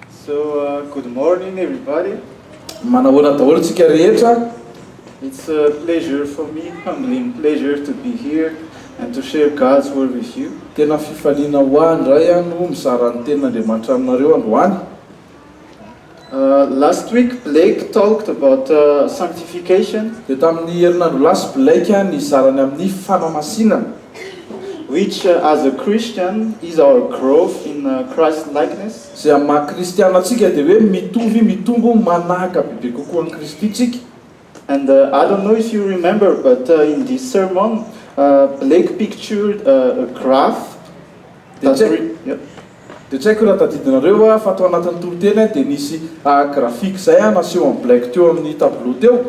So good morning everybody. Manahoana daholo tsika rehetra. It's a pleasure for me, humbling pleasure to be here and to share God's word with you. Tena fifaliana ho ahy indray aho no mizara ny tenin'Andriamanitra aminareo androany. Last week Blake talked about sanctification. Dia tamin'ny herinandro lasa Blake nizara ny amin'ny fanamasinana. Which, as a Christian, is our growth in Christ-likeness? Izay amin'ny maha Kristiana antsika dia hoe mitovy, mitombo, manahaka bebe kokoa an'i Kristy tsika. And I don't know if you remember but in this sermon Blake pictured a graph that read. Dia tsy haiko raha tadidinareo fa tao anatin'ny toriteny dia nisy graphique izay naseho en black teo amin'ny tableau teo,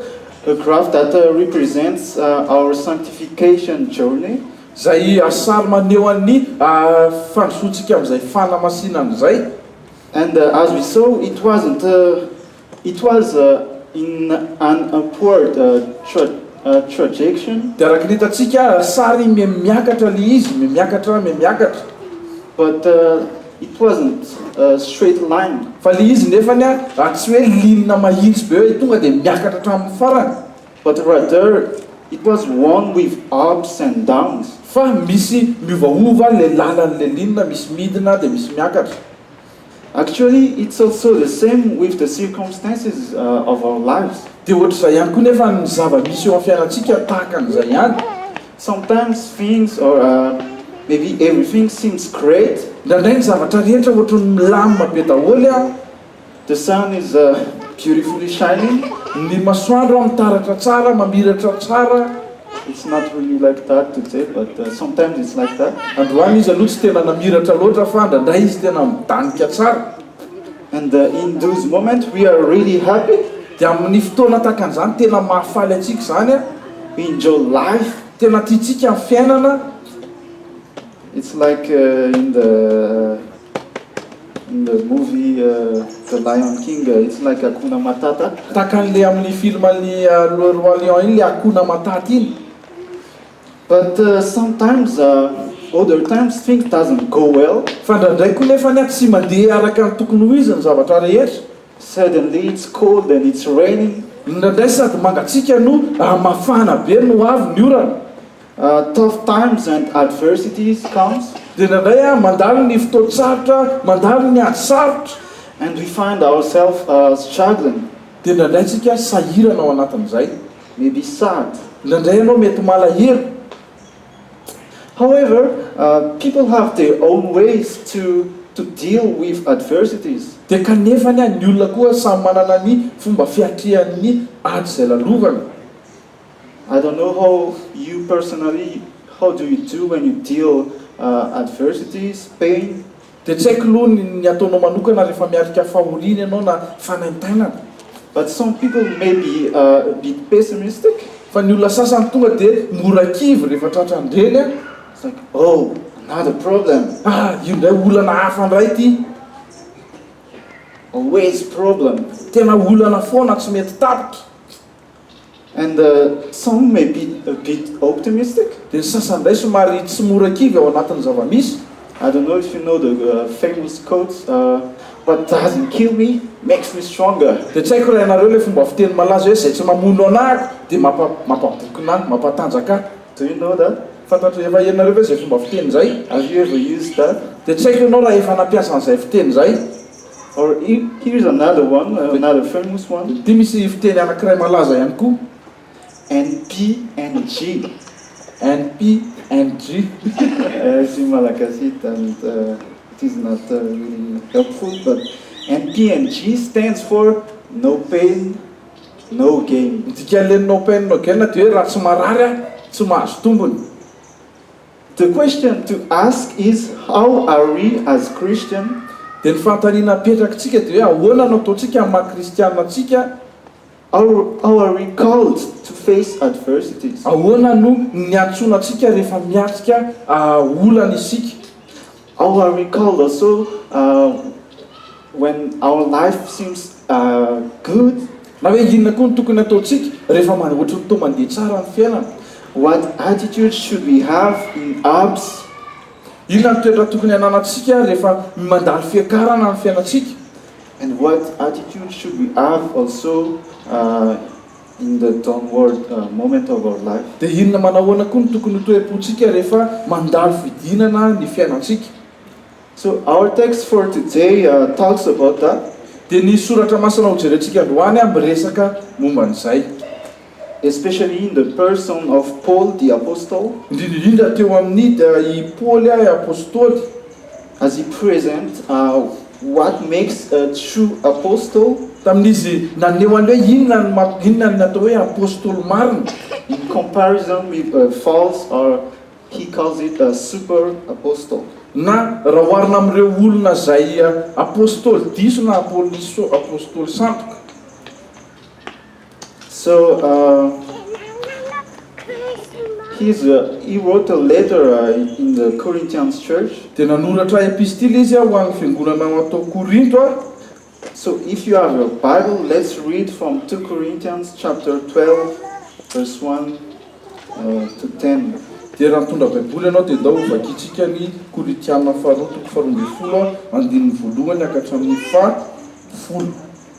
a graph that represents our sanctification journey, izay sary maneho an'ny fandrosoantsika amin'izay fanamasinana izay. And as we saw, it wasn't a It was in an upward trajection. Dia araka ny hitantsika ary sary me miakatra le izy me miakatra me miakatra. But it wasn't a straight line. Fa le izy nefany ary tsy hoe linina mahitsy be hoe tonga dia miakatra hatramin'ny farany. But rather it was one with ups and downs. Fa misy miovaova le lalan'le linina, misy midina dia misy miakatra. Actually it so so the same with the circumstances of our lives. Dia ohatr'izay ihany koa nefa ny zava-misy eo amin'ny fiainantsika tahaka an'izay ihany. Sometimes things or maybe everything seems great. Indraindray ny zavatra rehetra ohatry ny milamina be daholo an. The sun is beautifully shining. Ny masoandro an mitaratra tsara, mamiratra tsara. It's not really like that today but sometimes it's like that Androany izy aloha tsy tena namiratra loatra fa ndraindray izy tena midanika tsara And in those moments we are really happy Dia amin'ny fotoana tahaka an'izany tena mahafaly antsika izany an We enjoy life Tena tiantsika ny fiainana It's like in the In the movie The Lion King, it's like Hakuna Matata. Tahaka an'le amin'ny filman'i Le Roi Lion iny le Hakuna Matata iny. But sometimes, other times, things doesn't go well. Fa ndraindray koa nefa anie tsy mandeha araka ny tokony ho izy ny zavatra rehetra. Suddenly it's cold and it's raining. Ndraindray sady mangatsiaka no mafana be no avy ny orana. Tough times and adversities comes. Indraindray aho mandalo ny fotoan-tsarotra, mandalo ny ady sarotra. And we find ourself struggling. Dia indraindray tsika sahirana ao anatin'izay. May be sad. Indraindray ianao mety malahelo. However, people have their own ways to to deal with adversities. Dia kanefa anie ny olona koa samy manana ny fomba fiatrehany ny ady izay lalovany. I don't know how you personally how do you do when you deal adversities, pain. Dia tsy haiko loha ny ataonao manokana rehefa miarika fahoriana ianao na fanaintainana. But some people may be a bit pessimistic. Fa ny olona sasany tonga dia mora kivy rehefa tratran-dreny an. It's like, oh, another problem. Ah, io indray olana hafa indray ity. Always problem. Tena olana foana tsy mety tapitra. And some may be a bit optimistic. Dia ny sasany indray somary tsy mora kivy ao anatin'ny zava-misy. I don't know if you know the famous quote, What doesn't kill me makes me stronger. Dia tsy haiko raha ianareo ilay fomba fiteny malaza hoe izay tsy mamono anà ahy dia mampa mampabokona ahy, mampatanjaka ahy. Do you know that? Fantatr'i efa ianareo ve izay fomba fiteny izay? Have you ever used that? Dia tsy haiko ianao raha efa nampiasa an'izay fiteny izay. Or here's another one, another famous one. Dia misy fiteny anankiray malaza ihany koa, NPNG. NPNG. As in Malagasy and it is not really helpful but NPNG stands for no pain no gain. Ny dikan'ilay no pain no gain dia hoe raha tsy marary aho, tsy mahazo tombony. The question to ask is, How are we as Christian? Dia ny fanontaniana apetrakitsika dia hoe ahoana no ataontsika amin'ny maha kristiana antsika? How are we called to face adversities? Ahoana no niantsoana antsika rehefa miatrika olana isika? All I recall also when our life seems good na hoe inona koa no tokony hataontsika rehefa ohatran'ny toa mandeha tsara ny fiainana? What attitude should we have in ups? Inona no toetra tokony hananantsika rehefa mandalo fiakarana ny fiainantsika? And what attitude should we have also In the down world moment of our life. Dia inona manahoana koa no tokony ho toe-pontsika rehefa mandalo fidinana ny fiainantsika? So our text for today talks about that, dia ny soratra masina hojerentsika androany miresaka momba an'izay, especially in the person of Paul the apostle, indrindra indrindra teo amin'ny dia i Paoly apostoly, As he present what makes a true apostle? Tamin'izy naneho any hoe inona no maha inona ny atao hoe apostoly marina. In comparison with a false or he calls it a super apostle. Na raha oharina amin'ireo olona izay apostoly diso na apostoly sandoka. So he's a he wrote a letter in the Corinthians church. Dia nanoratra epistily izy ho an'ny fiangonana ao ato Korinto aho. So if you have your bible let's read from two Corinthians chapter twelve verse one to ten. Dia raha mitondra baiboly ianao dia ndao ho vakintsika ny Korintiana faharoa toko faharoa ambin'ny folo andininy voalohany haka hatramin'ny faha folo.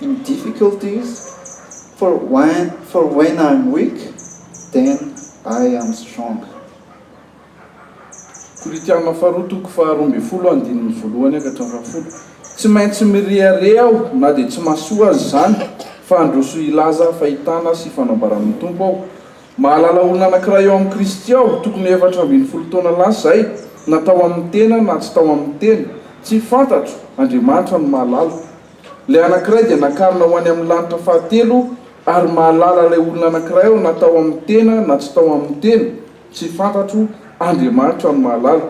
in difficulties for when for when I'm weak then I am strong. Koritiana faharoa toko faharoa ambin'ny folo andininy voalohany ka hatramin'ny fahafolo Tsy maintsy mirehareha aho na dia tsy mahasoa aza izany, fa handroso hilaza fahitana sy fanambaran'ny Tompo aho. Mahalala olona anankiray ao amin'i Kristy aho, tokony ho efatra ambin'ny folo taona lasa izay, na tao amin'ny tena na tsy tao amin'ny tena, tsy fantatro, Andriamanitra no mahalala, Ilay anankiray dia nakarina ho any amin'ny lanitra fahatelo ary mahalala ilay olona anankiray aho na tao amin'ny tena na tsy tao amin'ny tena, tsy fantatro, Andriamanitra no mahalala.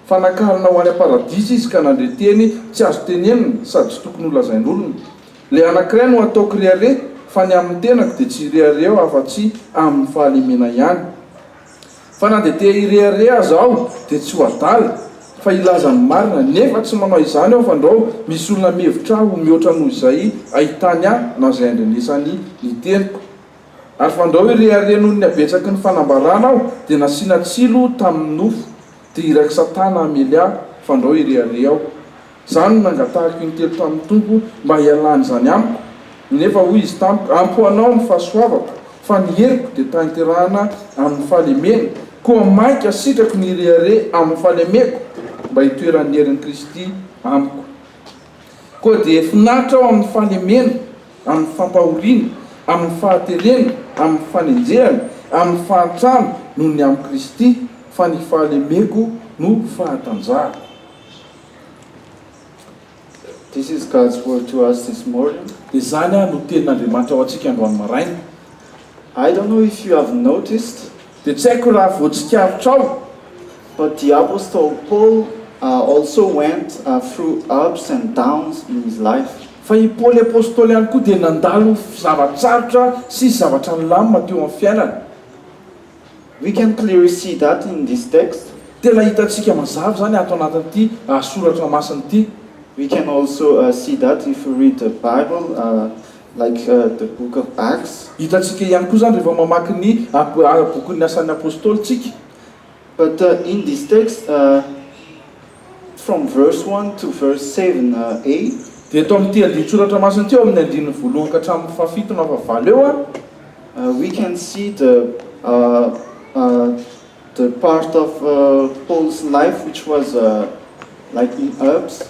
Fa nakarina ho any am-paradisa izy ka nandre teny tsy azo tenenina sady tsy tokony holazain'olona. Ilay anankiray no ataoko rehareha fa ny amin'ny tenako dia tsy hirehareha aho afa-tsy amin'ny fahalemena ihany. Fa na dia te hirehareha aza aho dia tsy ho adala fa hilaza ny marina, nefa tsy manao izany aho fandrao misy olona mihevitra ahy ho mihoatra noho izay ahitany ahy na izay andrenesany ny teniko. Ary fandrao hirehareha noho ny habetsaky ny fanambarana aho dia nasiana tsilo tamin'ny nofo, dia irak'i Satana hamely ahy fandrao hirehareha aho. Zany no nangatahako intelo tamin'ny Tompo mba hialany izany amiko, nefa hoy Izy tamiko, Ampy ho anao ny fahasoavako, fa ny heriko dia tanterahana amin'ny fahalemena, koa mainka asitrako ny rehareha amin'ny fahalemeko, mba hitoeran'ny herin'i Kristy amiko. Koa dia finaritra aho amin'ny fahalemena, amin'ny fampahoriana, amin'ny fahaterena, amin'ny fanenjehana, amin'ny fahantrana, noho ny amin'i Kristy, fa ny fahalemeko no fahatanjahako. This is God's word to us this morning. Izany ary no tenin'Andriamanitra ho antsika androany maraina. I don't know if you have noticed. Dia tsy haiko raha voatsikaritrao. But the apostle Paul also went through ups and downs in his life. Fa i Paoly apostoly ihany koa dia nandalo zava-tsarotra sy zavatra nilamina teo amin'ny fiainany. We can clearly see that in this text, tena hitantsika mazava izany ato anatin'ity soratra masina ity. We can also see that if we read the Bible like the book of Acts. Hitantsika ihany koa izany rehefa mamaky ny bokin'ny Asan'ny Apostoly isika. But in this text, From verse one to verse seven a. Dia eto amin'ity andinin-tsoratra masina ity, ao amin'ny andininy voalohany ka hatramin'ny fahafito na fahavalo eo a. We can see the the part of Paul's life which was like in ups.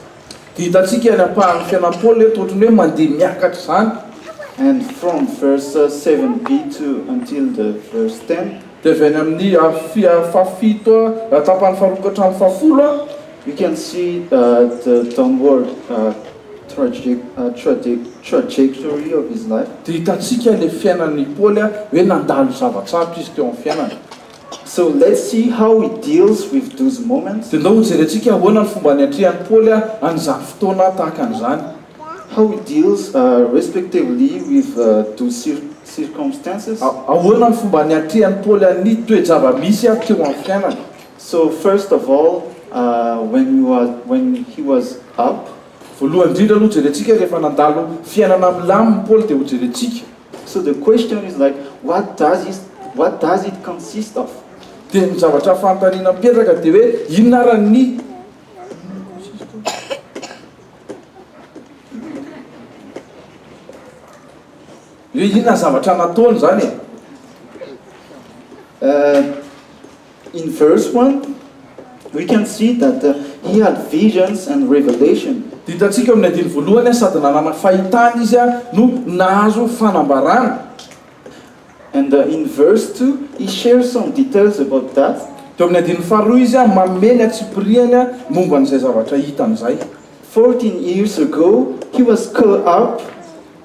Dia hitantsika ny ampahan'ny fiainan'i Paoly eto ohatry ny hoe mandeha miakatra izany. And from verse seven b to until the verse ten. Dia avy any amin'ny afia fahafito a, tapany faharoa ka hatramin'ny fahafolo a. You can see the downward trajectory of his life. Dia hitantsika ilay fiainan'i Paoly a, hoe nandalo zava-tsarotra izy teo amin'ny fiainany. So let's see how he deals with those moments. Dia ndao hojerentsika ahoana no fomba niatrehan'i Paoly a an'izany fotoana tahaka an'izany. How he deals respectively with those circumstances. Ahoana no fomba niatrehan'i Paoly an'ny toe-java-misy teo amin'ny fiainany? So, first of all, when he was, when he was up. Voalohany indrindra aloha hojerentsika rehefa nandalo fiainana milamina i Paoly dia hojerentsika. So the question is like what does is what does it consist of. Dia ny zavatra fanontaniana mipetraka dia hoe inona ary ny. Hoe inona ny zavatra nataony izany e? Uh, in verse 1, we can see that uh, he had visions and revelation. Ditantsika amin'ny andiny voalohany sady nanana fahitana izy no nahazo fanambarana. And the in verse two he shares some details about that. Teo amin'ny andininy faharoa izy manome ny antsipiriany momba an'izay zavatra hitany izay. Fourteen years ago he was caught up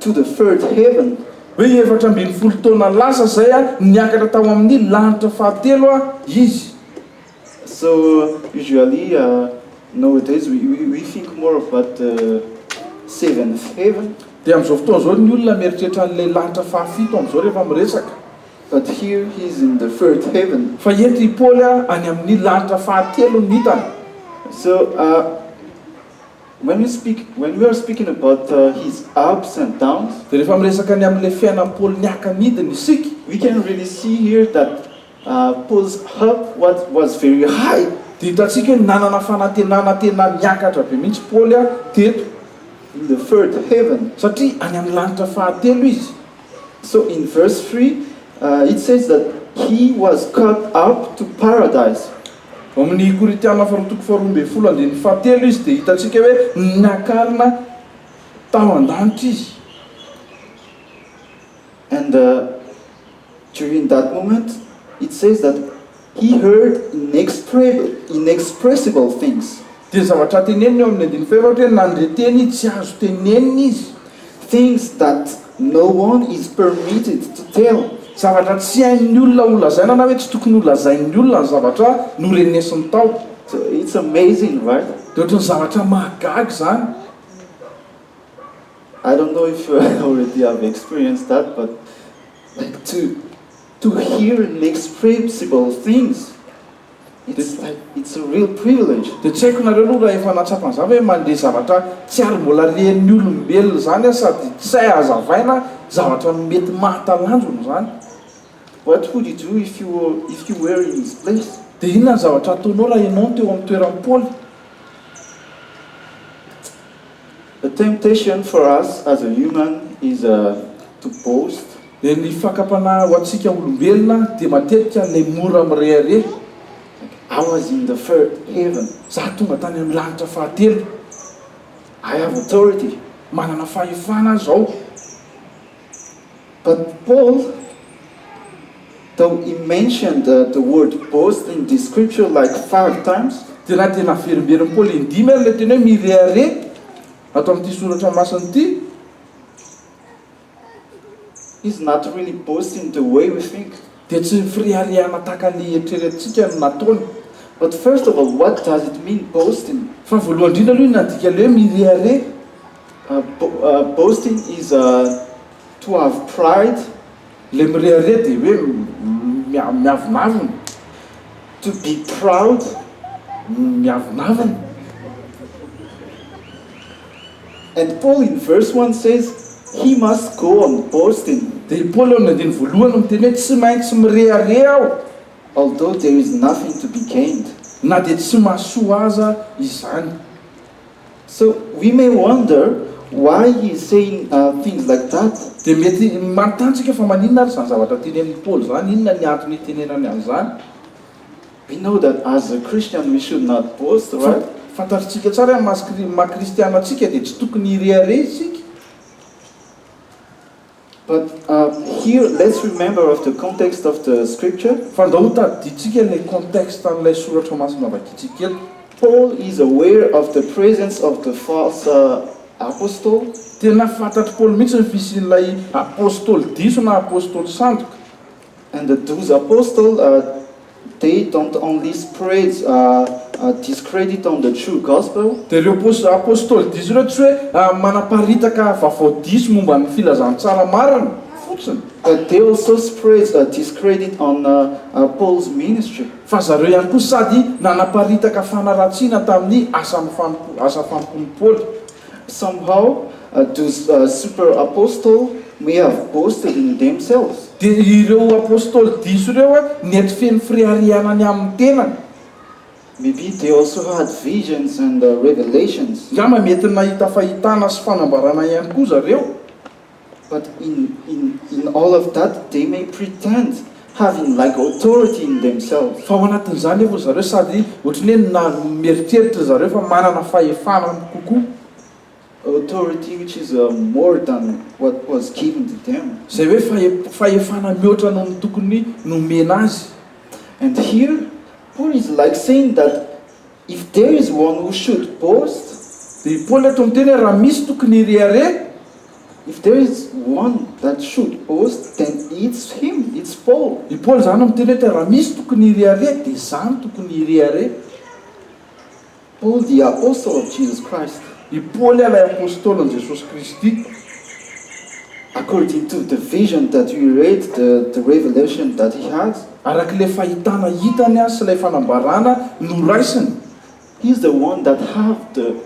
to the third heaven. Hoe efatra ambin'ny folo taona lasa izay niakatra tao amin'ny lanitra fahatelo izy. So usually nowadays we think more of that seventh heaven. Dia amin'izao fotoana izao ny olona mieritreritra an'ilay lanitra fahafito amin'izao rehefa miresaka. But here he is in the third heaven. Fa eto i Paoly any amin'ny lanitra fahatelo no hitany. So when we speak, when we are speaking about his ups and downs. Dia rehefa miresaka ny amin'ilay fiainan'i Paoly niaka nidina isika. We can really see here that. Pose Hup what was very high. Dia hitantsika hoe nanana fanantenana tena niakatra be mihitsy Paoly teto. In the third heaven. Satria any amin'ny lanitra fahatelo izy. So in verse three it says that he was caught up to paradise. Ao amin'ny Korintiana faharoa toko faharoa ambin'ny folo andininy fahatelo izy dia hitantsika hoe niakarina tao an-danitra izy. And during that moment it says that he heard inexpressible things. Dia zavatra teneniny eo amin'ny andininy fahaefatra hoe nandre teny tsy azo tenenina izy. Things that no one is permitted to tell. Zavatra tsy hain'ny olona holazaina na hoe tsy tokony holazain'ny olona ny zavatra norenesiny tao. It's amazing, right? Dia ohatran'ny zavatra mahagaga izany. I don't know if you already have experienced that but like to to hear an expressible things it's like it's a real privilege. Dia tsy haiko nareo aloha raha efa nahatsapa an'izany ve mandre zavatra tsy ary mbola ren'ny olombelona izany aho sady tsy hay hazavaina zavatra mety mahatalanjona izany. What would you do if you were if you were in his place? Dia inona ny zavatra hataonao raha ianao no teo amin'ny toeran'i Paoly? The temptation for us as a human is to boast. Dia ny fakam-panahy ho antsika olombelona dia matetika ilay mora mirehareha. Like, I was in the third heaven. Izaho tonga tany amin'ny lanitra fahatelo. I have authority, manana fahefana aho izao. But Paul, though he mentioned the word boast in the scripture like five times, Dia na dia naverimberin'i Paoly indimy ary ilay teny hoe mirehareha ato amin'ity soratra masina ity, he's not really boasting the way we think. dia tsy fireharehana tahaka ny eritreretintsika no nataony. But first of all, what does it mean boasting? Fa voalohany indrindra aloha, inona ny dikan'ilay hoe mirehareha? Boasting is a to have pride, ilay mirehareha dia hoe miavonavona, to be proud, miavonavona. And Paul in verse one says, he must go on boasting. Dia i Paoly ao amin'ny andininy voalohany no miteny hoe tsy maintsy mirehareha aho, although there is nothing to be gained, na dia tsy mahasoa aza izany. So we may wonder why he is saying things like that. Dia mety manontany tsika fa maninona ary izany zavatra tenenin'i Paoly izany, inona ny antony itenenany an'izany. We know that as a Christian we should not boast, right? Fantatritsika tsara hoe amin'ny maha kristiana antsika dia tsy tokony hirehareha isika. But here let's remember of the context of the scripture. Fandrao ho tadidintsika ilay contexte an'ilay soratra masina vakintsika eto. Paul is aware of the presence of the false apostle. Tena fantatr'i Paoly mihitsy ny fisian'ilay apostoly diso na apostoly sandoka. And the douze apostles they don't only spread discredit on the true gospel. Dia ireo apostoly diso ireo tsy hoe manaparitaka vaovao diso momba ny filazantsara marina fotsiny. But they also spread discredit on Paul's ministry. Fa zareo ihany koa sady nanaparitaka fanaratsiana tamin'ny asa fanompoan'i Paoly. Somehow those super apostle may have boasted in themselves. Dia ireo apostoly diso ireo nety feno fireharehana ny amin'ny tenany. Maybe they also had visions and revelations. Angamba mety nahita fahitana sy fanambarana ihany koa zareo. But in in in all of that they may pretend having like authority in themselves. Fa ao anatin'izany nefa ry zareo sady ohatran'ny hoe na mieritreritra ry zareo fa manana fahefana kokoa. Authority which is more than what was given to them. Izay hoe fahe fahefana mihoatra noho ny tokony nomena azy. And here Paul is like saying that. If there is one who should boast, dia i Paoly eto miteny hoe raha misy tokony hirehareha, if there is one that should boast, then it's him, it's Paul. I Paoly izany no miteny hoe raha misy tokony hirehareha dia izaho no tokony hirehareha. Paul the apostle of Jesus Christ. I Paoly ilay Apôstôlin'i Jesosy Kristy. According to the vision that he read, the the revelation that he had. Araka ilay fahitana hitany sy ilay fanambarana noraisiny. He's the one that have the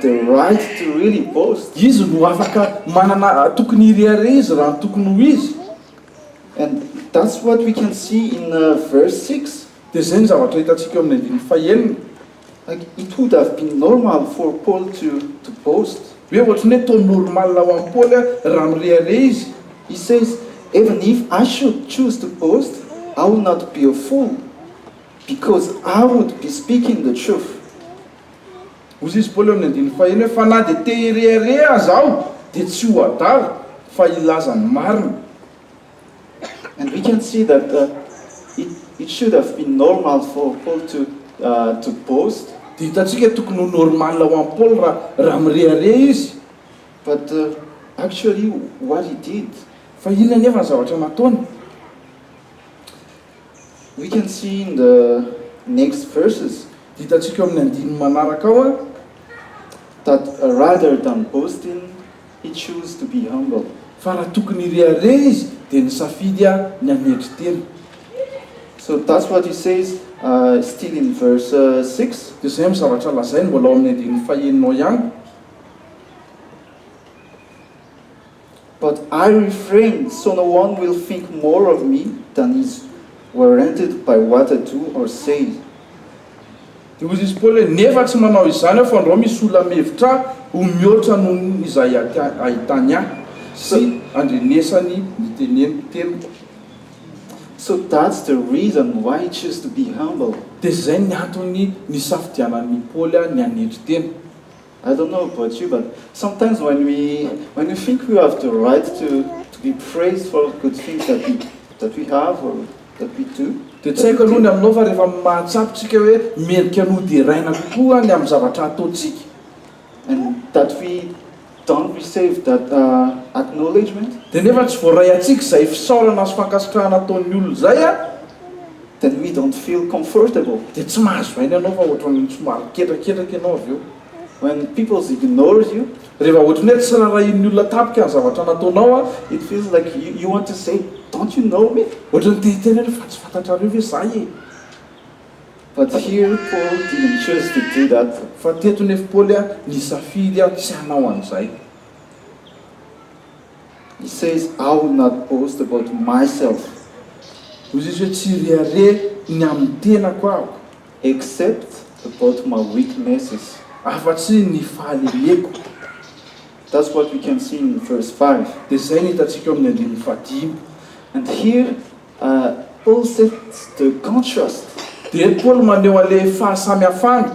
the right to really boast. Izy no afaka manana tokony hirehareha izy raha ny tokony ho izy. And that's what we can see in verse six. Dia izay no zavatra hitantsika eo amin'ny andininy fahenina. Like it would have been normal for Paul to to boast. Hoe ohatry ny hoe toa normal ho an'i Paoly raha mirehareha izy. He says, Even if I should choose to boast, I would not be a fool, because I would be speaking the truth. Hoy izy, Paoly, amin'ny andininy fahenina hoe, Fa na dia te hirehareha aza aho, dia tsy ho adala, fa hilaza ny marina. And we can see that it should have been normal for Paul to boast. Dia hitantsika tokony ho normal ho an'i Paoly raha mirehareha izy. But actually what he did. Fa inona anefa ny zavatra nataony? We can see in the next verses. Dia hitantsika ao amin'ny andininy manaraka ao. That rather than boasting. He choose to be humble, fa raha tokony hirehareha izy dia nisafidy ny hanetry tena. So that's what he says still in verse six. Dia izay amin'ny zavatra lazainy mbola ao amin'ny andininy fahenina ao ihany. But I refrain so no one will think more of me than is warranted by what I do or say. Dia hoy izy Paoly hoe, Nefa tsy manao izany aho, fa andrao misy olona mihevitra ahy ho mihoatra noho ny izay ahitany ahy, sy andrenesany ny teniko. So that's the reason why he choose to be humble. Dia izay ny antony nisafidianan'i Paoly ny hanetry tena. I don't know about you but sometimes when we when we think we have the right to to be praised for good things that we that we have or that we do, Dia tsy haiko aloha ny aminao fa rehefa mahatsapa isika hoe merika noderaina kokoa ny amin'ny zavatra ataontsika, and that we don't receive that acknowledgement, dia nefa tsy voaray antsika izay fisaorana sy fankasitrahana ataon'ny olona izay, Then we don't feel comfortable, dia tsy mahazo aina ianao fa ohatran'ny somary miketraketraka ianao avy eo. When people ignore you, rehefa ohatran'ny hoe tsy rarahian'ny olona tampoka ny zavatra nataonao an, it feels like you want to say, don't you know me? Ohatran'ny te hiteny ianao fa tsy fantatrareo ve za e? But here Paul didn't choose to do that, fa teto nefa Paoly nisafidy tsy hanao an'izay. He says I will not boast about myself, hoy izy hoe tsy hirehareha ny amin'ny tenako aho, except about my weaknesses, afa-tsy ny fahalemeko. That's what we can see in verse five. Dia izay no hitantsika eo amin'ny andininy fahadimy. And here Paul sets the contrast. Dia eto Paoly maneho an'ilay fahasamihafana.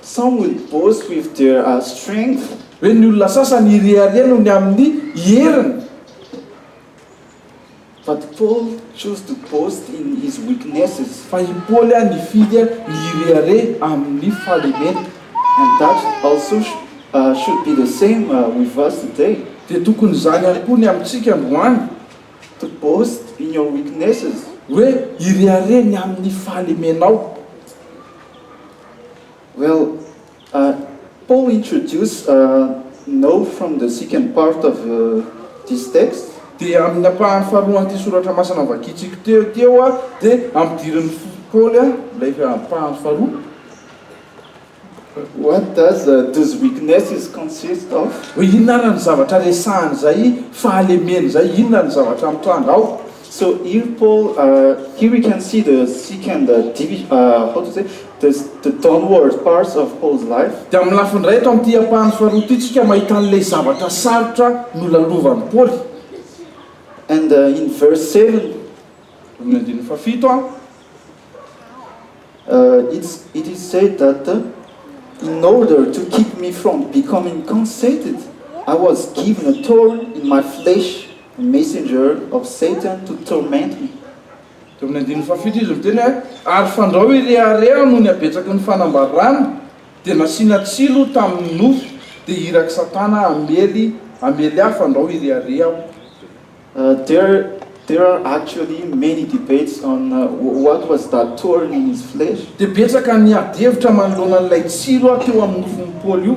Some would boast with their strength. Hoe ny olona sasany hirehareha noho ny amin'ny heriny. But Paul chose to boast in his weaknesses. Fa i Paoly nifidy ny hirehareha amin'ny fahalemeny. And that also should be the same with us today. Dia tokony izany ihany koa ny amintsika androany. To boast in your weaknesses. Hoe hirehareha ny amin'ny fahalemenao. Well, Paul introduce know from the second part of this text. Dia amin'ny ampahany faharoan'ity soratra masina novakintsika teo ity aho dia ampidirin'i Paoly ilay ampahany faharoa. What does those weaknesses consist of? Hoe inona ary ny zavatra resahany izay fahalemeny izay, inona no zavatra mitranga ao? So here Paul, here we can see the sick and the divi, how to say, the the downward parts of Paul's life. Dia amin'ny lafiny iray eto amin'ity ampahany faharoa ity isika mahita an'ilay zavatra sarotra nolalovan'i Paoly. And in verse seven, Amin'ny andininy fahafito an, it's it is said that in order to keep me from becoming conceited, I was given a thorn in my flesh, A messenger of Satan to torment me. Teo amin'ny andininy fahafito izy miteny hoe, Ary fandrao i rehareha noho ny habetsaky ny fanambarany, dia nasiana tsilo tamin'ny nofy, dia irak'i Satana hamely hamely ahy fandrao i rehareha aho. A There there are actually many debates on what was that thorn in his flesh. Dia betsaka ny ady hevitra manoloana an'ilay tsilo teo amin'ny nofon'i Paoly io.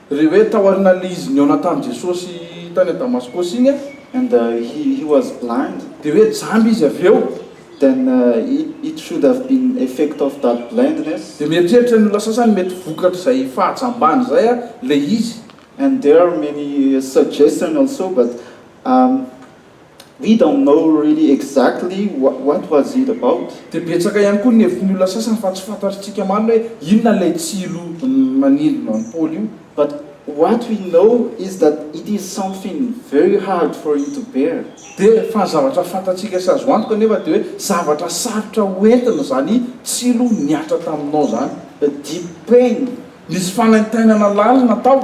Re hoe tao arinan'le izy nihaona tamin'i Jesosy tany Damaskosy iny a. And he he was blind. Dia hoe jamba izy avy eo. Then it should have been effect of that blindness. Dia mieritreritra ny olona sasany mety vokatr'izay fahajambany izay a, le izy. And there are many suggestion also but, um. We don't know really exactly what was it about. Dia betsaka ihany koa ny hevitn'ny olona sasany fa tsy fantatrtsika marina hoe inona ilay tsilo manindrona an'i Paoly io. But what we know is that it is something very hard for you to bear. Dia fa ny zavatra fantatsika sy azo antoka anefa dia hoe zavatra sarotra ho entina izany tsilo nihatra taminao izany. A deep pain. Nisy fanaintainana lalina tao.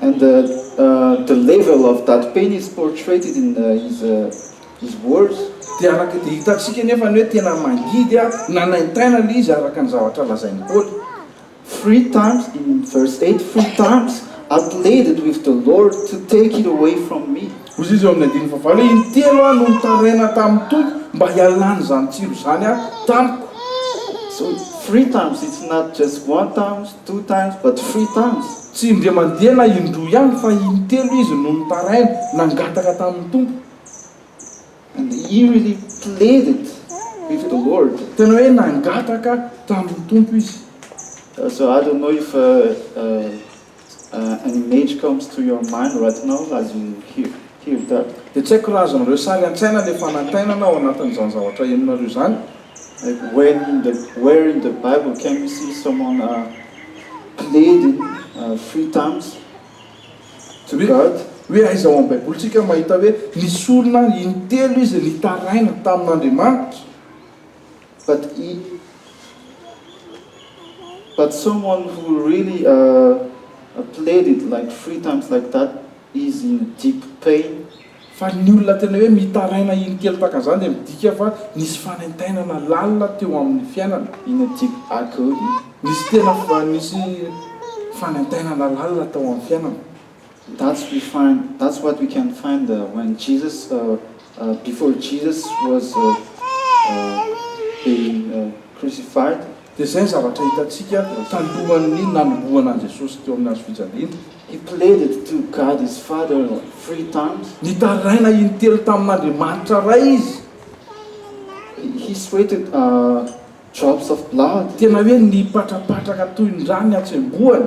And the the level of that pain is portraited in his his words. Dia araka dia hitantsika anefa ny hoe tena mangidy ary nanaintaina ilay izy araka ny zavatra lazain'i Paoly. Three times in verse eight, three times I pleaded with the Lord to take it away from me. Hoy izy eo amin'ny andininy fahavalo hoe, Intelo aho no nitaraina tamin'ny Tompo mba hialana izany tsiro izany aho tamiko. So, three times, it's not just one times, two times, but three times. Tsy indray mandeha na indroa ihany fa intelo izy no nitaraina, nangataka tamin'ny Tompo. And he really pleaded with the Lord. Tena hoe nangataka tamin'ny Tompo izy. So, I don't know if, uh, uh. an image comes to your mind right now as you hear hear that. Dia tsy haiko raha azonareo sary an-tsaina ilay fanaintainana ao anatin'izany zavatra henonareo izany. Like when in the where in the bible can we see someone a pleading a three times to God. Hoe aiza ao amin'ny baibolintsika mahita hoe nisy olona intelo izy nitaraina tamin'Andriamanitra. But i But someone who really ah played it like three times like that is in deep pain. Fa ny olona tena hoe mitaraina iny kely tahaka an'izany dia midika fa nisy fanaintainana lalina teo amin'ny fiainana. In a deep agonie. Nisy tena fa nisy fanaintainana lalina tao amin'ny fiainana. That's we find, that's what we can find when Jesus, before Jesus was being crucified. Dia izay ny zavatra hitantsika talohan'ny nanombohana an'i Jesosy teo amin'ny hazofijaliana. He pleaded to God his Father three times. Nitaraina intelo tamin'Andriamanitra Ray izy. He sweated drops of blood. Tena hoe nipatrapatraka toy ny rà ny hatsembohany.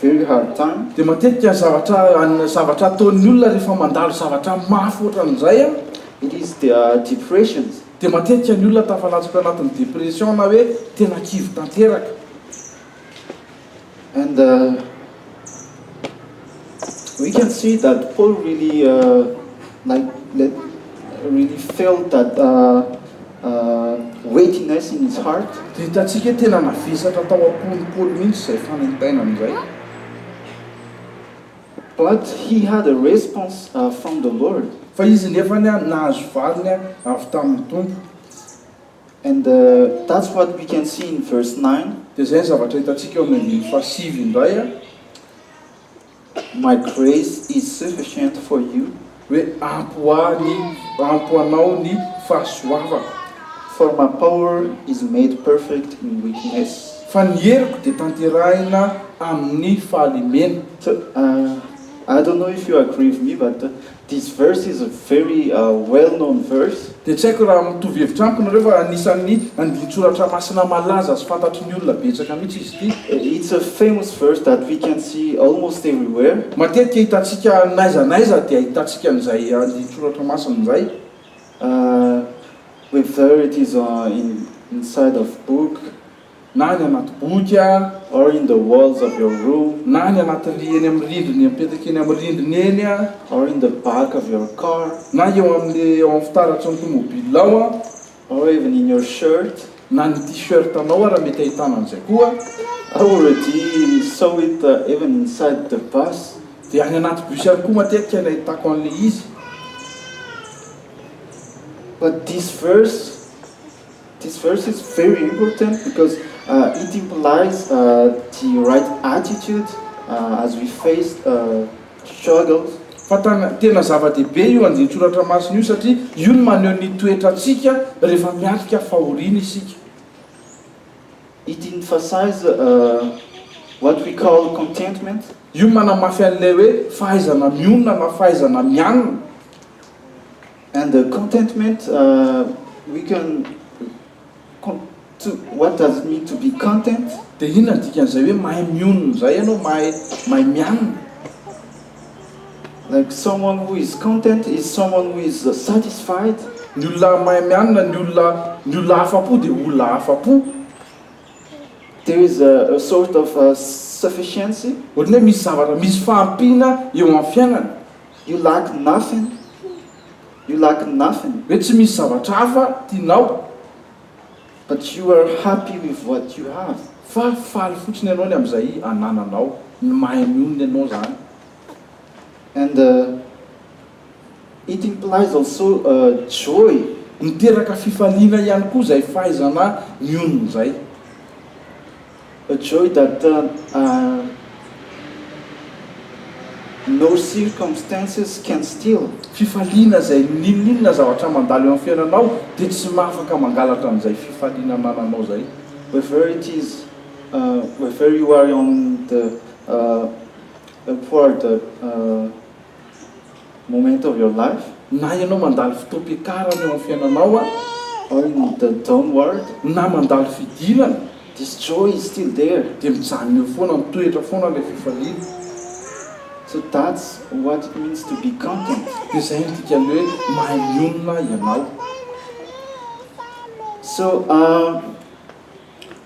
very hard time. Dia matetika zavatra zavatra ataon'ny olona rehefa mandalo zavatra mafy ohatran'izay an. Ilay izy dia depressions. Dia matetika ny olona tafalatsaka anatin'ny depression na hoe tena kivy tanteraka. And we can see that Paul really like really felt that weightiness in his heart. Dia hitantsika tena navesatra tao am-pony Paoly mihitsy izay fanentainana izay. But he had a response from the Lord. Fa izy nefany nahazo valiny avy tamin'ny Tompo. And that's what we can see in verse nine. Dia izay ny zavatra hitantsika eo amin'ny andininy fahasivy indray. My grace is sufficient for you, hoe ampy ho ahy ny, ampy ho anao ny fahasoavako. For my power is made perfect in weakness. Fa ny heriko dia tanterahina amin'ny fahalemena. I don't know if you agree with me but This verse is a very well known verse. Dia tsy haiko raha mitovy hevitra amiko nareo fa anisan'ny andinin-tsoratra masina malaza sy fantatry ny olona betsaka mihitsy izy ity. It's a famous verse that we can see almost everywhere. Matetika hitantsika n'aiza n'aiza dia ahitantsika an'izay andinin-tsoratra masina izay. Whether it is inside of book. na any anaty boky aza, or in the walls of your room, na any anaty ry eny amin'ny rindriny apetaka eny amin'ny rindriny eny aza, or in the back of your car, na eo amin'ny eo amin'ny fitaratry ny tomobilinao aza, or even in your shirt, na ny t-shirt anao aza raha mety ahitana an'izay koa. I already saw it even inside the bus, dia any anaty bus ihany koa matetika no ahitako an'ilay izy, but this verse, This verse is very important because it implies the right attitude as we face struggles. Fantany, tena zava-dehibe io andinin-tsoratra masina io satria io no maneho ny toetrantsika rehefa miatrika fahoriana isika. It emphasizes what we call contentment. Io manamafy an'ilay hoe fahaizana mionona na fahaizana mianina. And the contentment we can what does it mean to be content? Dia inona no dikan'izay hoe mahay mionona izay ianao, mahay mahay mianina? Like someone who is content is someone who is satisfied. Ny olona mahay mianina, ny olona ny olona afa-po dia olona afa-po. There is a a sort of sufficiency. Ohatran'ny hoe misy zavatra, misy fahampiana eo amin'ny fiainana. Io laky nafin Io laky nafin. Hoe tsy misy zavatra hafa tianao but you are happy with what you have fa faly fotsiny ianao ny amin'izay anananao, ny mahay mionona ianao zany. And it implies also joy. Miteraka fifaliana ihany koa izay fahaizana mionona izay. A joy that turned under no circumstances can steal. Fifaliana izay n'inon'inona zavatra mandalo eo amin'ny fiainanao dia tsy maha afaka mangalatra an'izay fifaliana anananao izay. Wherever it is, wherever you are on the upward. Moment of your life, na ianao mandalo fotoam-piakarana eo amin'ny fiainanao ao amin'ny the downward, na mandalo fidirana, this joy is still there, dia mijanona eo foana, mitoetra foana ilay fifaliana. So that's what it means to be content, dia izay no dikan'ny hoe mahay mionona ianao. So,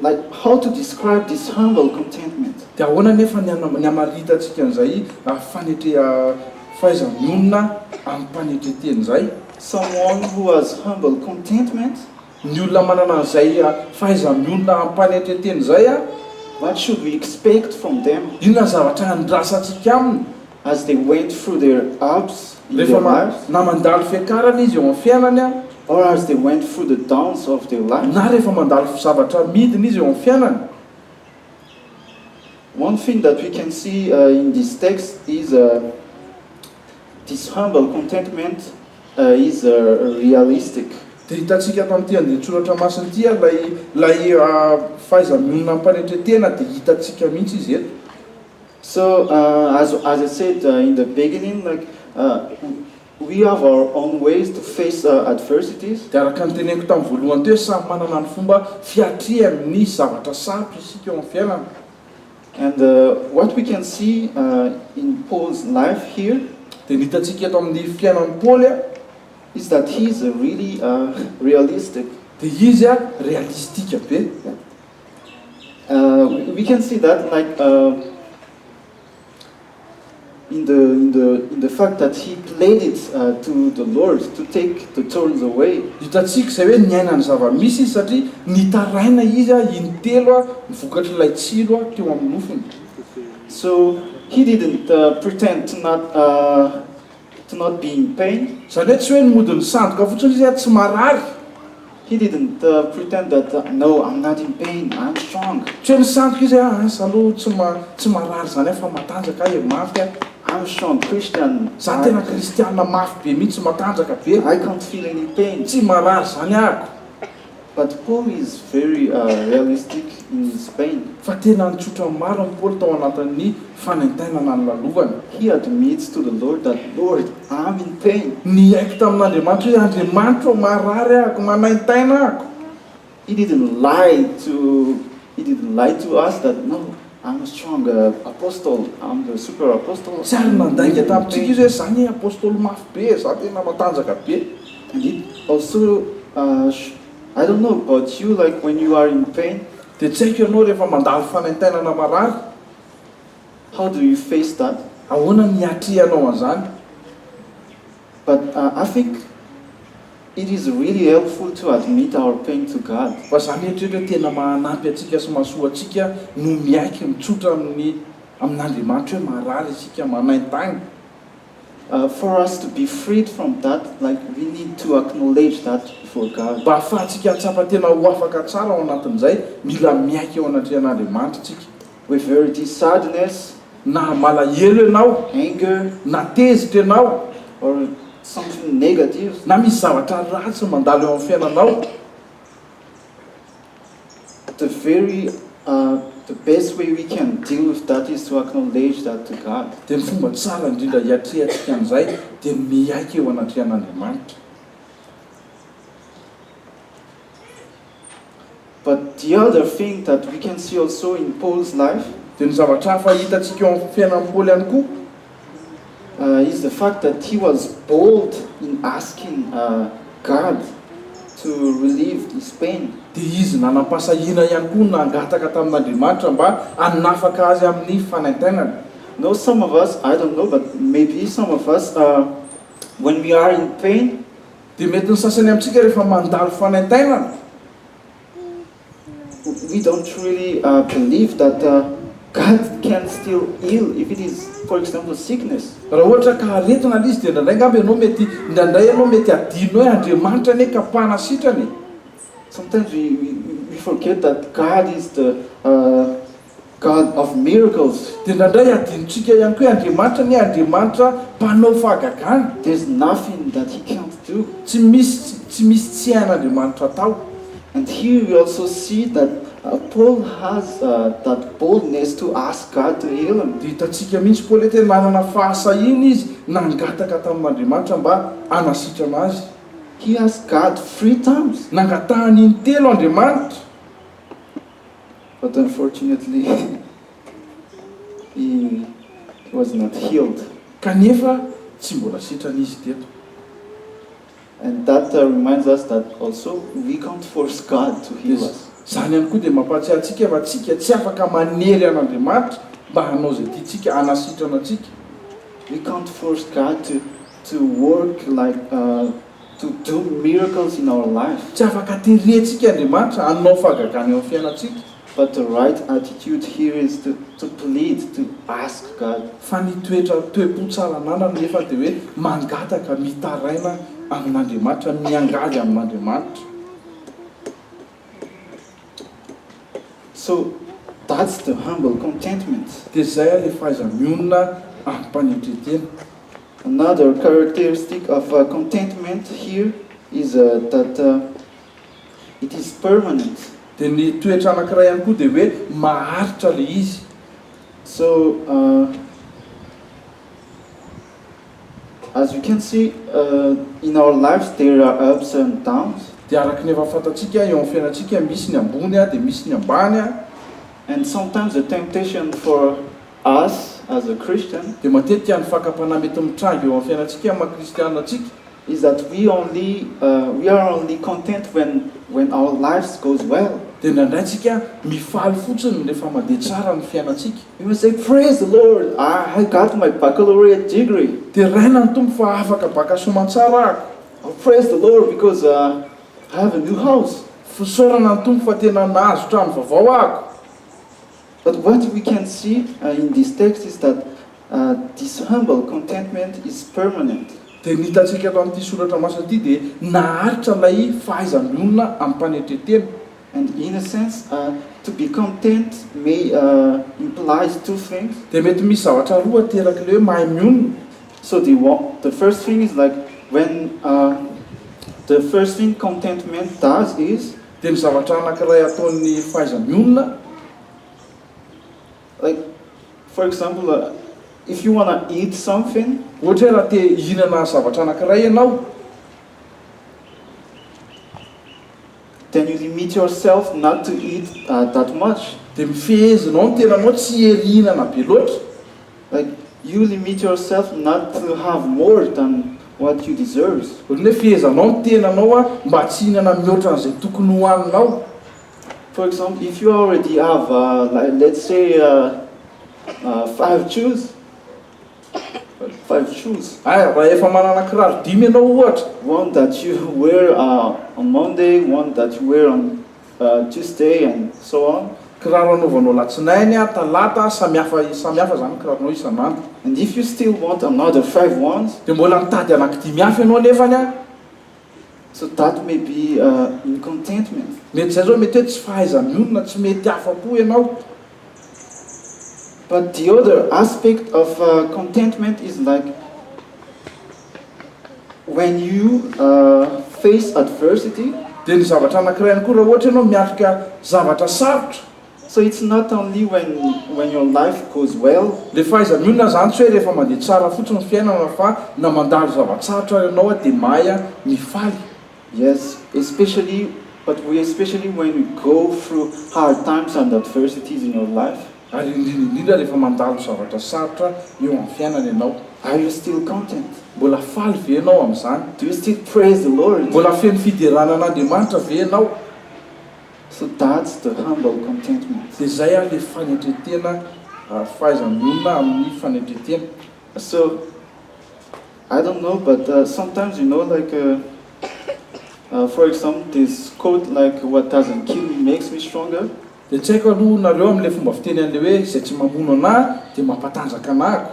Like how to describe this humble contentment. Dia ahoana anefa ny ny hamaritantsika an'izay fanetrea fahaiza-mionona amim-panetren-teny izay? Someone who has humble contentment. Ny olona manana an'izay fahaiza-mionona amim-panetren-teny izay. What should we expect from them? Inona ny zavatra andrasantsika aminy? As they went through their ups in their lives. Rehefa na mandalo fiakarana izy eo amin'ny fiainany. Or as they went through the downs of their lives. Na rehefa mandalo zavatra midina izy eo amin'ny fiainany. One thing that we can see in this text is this humble contentment is realistic. Dia hitantsika ato amin'ity andinin-tsoratra masina ity ary ilay ilay fahaiza-mionona amim-panetren-tena dia hitantsika mihitsy izy eto. So as as I said in the beginning like we have our own ways to face adversities. Dia araka ny teneniko tamin'ny voalohany teo, samy manana ny fomba fiatrehany ny zavatra sarotra isika eo amin'ny fiainana. And what we can see in Paul's life here. Dia ny hitantsika eto amin'ny fiainan'i Paoly. Is that he is really realistic. Dia izy realistika be. We can see that in the fact that he played it to the Lord to take the thorns away. Hitantsika izay hoe niaina ny zava-misy izy satria nitaraina izy in-telo ny vokatr'ilay tsilo teo amin'ny nofony. So he didn't pretend to not It's not being pain, izany hoe tsy hoe ny modin'ny sandoka fotsiny izy ary tsy marary. He didn't pretend that, no, I'm not in pain, I'm strong. Tsy hoe nisandoka izy hoe, asa aloha tsy ma, tsy marary izany aho fa matanjaka aho e, mafy aho. I'm a strong Christian, I. Izaho tena kristiana mafy be mihitsy, matanjaka be. I can't feel any pain. Tsy marary izany aho. But Paul is very realistic in his pain. Fa tena nitsotra maro an'i Paoly tao anatin'ny fanaintainana ny lalovany. He admits to the Lord that, Lord, I'm in pain. Niaiky tamin'Andriamanitra hoe, Andriamanitra ô, marary ahako, manaintaina ahako. He didn't lie to he didn't lie to us that, no, Armstrong Apostle and the Super Apostle. Tsy ary nandainga tamintsika izy hoe zany apostoly mafy be e, za tena matanjaka be. And it also I don't know about you like when you are in pain. Dia tsy haiko ianao rehefa mandalo fanaintainana marary. How do you face that? Ahoana no hiatrehanao an'izany? But Afik, it is really helpful to admit our pain to God. Fa za mieritreritra hoe tena mahanampy antsika sy mahasoa antsika no miaiky mitsotra amin'ny amin'Andriamanitra hoe marary isika, manaintagny. For us to be freed from that, like we need to acknowledge that before God. Mba ahafahantsika hahatsapa tena ho afaka tsara ao anatin'izay, mila miaiky eo anatrehan'Andriamanitra tsika. We very deep sadness na malahelo ianao, anger, na tezitra ianao, or something negative, na misy zavatra ratsy mandalo eo amin'ny fiainanao, the very the best way we can deal with that is to acknowledge that to God. Dia ny fomba tsara indrindra hiatrehantsika an'izay dia ny miaiky eo anatrehan'Andriamanitra. But the other thing that we can see also in Paul's life, Dia ny zavatra hafa hitantsika eo amin'ny fiainan'i Paoly ihany koa, is the fact that he was bold in asking God to relieve his pain, dia izy nanam-pahasahiana ihany koa nangataka tamin'Andriamanitra mba hanafaka azy amin'ny fanaintainana. No, some of us, I don't know, but maybe some of us, when we are in pain, Dia mety ny sasany amintsika rehefa mandalo fanaintainana, we don't really believe that God can still heal if it is for example sickness. Raha ohatra ka aretina ilay izy dia indraindray angamba ianao mety, indraindray ianao mety hadinonao hoe Andriamanitra anie ka mpana sitrana e. Sometimes we forget that God is the. God of miracles, dia indraindray adinontsika ihany koa hoe Andriamanitra anie Andriamanitra mpanao fahagagana. There's nothing that he can't do, tsy misy tsy misy tsy hain'Andriamanitra atao. And here we also see that Paul has that boldness to ask God to heal him. Dia hitantsika mihitsy Paoly hoe tena nanana fahasahiana izy nangataka tamin'Andriamanitra mba hanasitrana azy. He asked God three times. Nangatahany intelo Andriamanitra. but unfortunately he was not healed. Kanefa tsy mbola sitrana izy teto. And that reminds us that also we can't force God to heal us. Izany ihany koa dia mampahatsiahy antsika fa tsika tsy afaka manery an Andriamanitra mba hanao izay tiantsika, hanasitrana antsika. We can't force God to to work like a. to do miracles in our life, tsy afaka tery antsika Andriamanitra hanao fahagagana eo amin'ny fiainantsika, but the right attitude here is to to plead, to ask God. Fa ny toetra toe-po tsara ananany nefa dia hoe mangataka, mitaraina amin'Andriamanitra, miangavy amin'Andriamanitra. So that's the humble contentment. Dia izay ilay fahaiza-mionona amim-panetren-tena. Another characteristic of contentment here is that it is permanent. Dia ny toetra anankiray ihany koa dia hoe maharitra ilay izy. So. As you can see in our lives there are ups and downs. Dia araka ny efa fantatsika eo amin'ny fiainantsika misy ny ambony dia misy ny ambany. And sometimes the temptation for us as a Christian. Dia matetika ny fakam-panahy mety mitranga eo amin'ny fiainantsika maha kristiana antsika. Is that we only we are only content when when our lives goes well. Dia indraindray tsika mifaly fotsiny rehefa mandeha tsara ny fiainantsika. You will say praise the Lord I got my baccalaureate degree. Deraina ny Tompo fa afaka baka soamantsara ako. I'll praise the Lord because I have a new house. Fisaorana ny Tompo fa tena nahazo trano vaovao ako. But what we can see in this text is that this humble contentment is permanent. Dia ny hitantsika eto amin'ity soratra masina ity dia naharitra ilay fahaizam-bionona amim-panetren-tena. And in a sense, to be content may implies two things. Dia mety misy zavatra roa ateraky ilay hoe mahay mionona, so the the first thing is like when the first thing contentment does is. Dia ny zavatra anankiray ataon'ny fahaiza-mionona. Like for example if you wanna eat something. Ohatra hoe raha te hihinana zavatra anankiray ianao. Can you limit yourself not to eat that much? Dia mifehezinao ny tenanao tsy hierihinana be loatra. Like you limit yourself not to have more than what you deserves. Ohatran'ny hoe fehezanao ny tenanao mba tsy hihinana mihoatra an'izay tokony hohaninao. For example, if you already have, let's say, five chews. Five shoes. Aya, raha efa manana kiraro dimy ianao ohatra. One that you wear on Monday, one that you wear on Tuesday and so on. Kiraro anaovanao latsinainy, talata, samihafa samihafa izany ny kiraronao isan'andro. And if you still want another five ones. Dia mbola mitady anankidimy hafa ianao anefany an. So that may be in contentment. Mety izay zao mety hoe tsy fahaiza-mionona, tsy mety afa-po ianao. But the other aspect of contentment is like when you face adversity. Dia ny zavatra anankiray ihany koa raha ohatra ianao miatrika zavatra sarotra. So it's not only when when your life goes well. Le fahaiza-mionona zany tsy hoe rehefa mandeha tsara fotsiny ny fiainana fa na mandalo zava-tsarotra ary ianao dia mahay mifaly. Yes, especially but we especially when we go through hard times and adversities in your life. Ary indrindra indrindra rehefa mandalo zavatra sarotra eo amin'ny fiainana ianao. Are you still content? Mbola faly ve ianao amin'izany? Do you still praise the Lord? Mbola feno fiderana an'Andriamanitra ve ianao? So that's the humble contentment. Dia izay ary le fanetretena ary fahaizan'ny olona amin'ny fanetretena. So I don't know but sometimes you know like for example this quote like what doesn't kill me makes me stronger. Dia tsy haiko aloha nareo amin'ilay fomba fiteny an'ilay hoe izay tsy mamono anà dia mampatanjaka anà ko.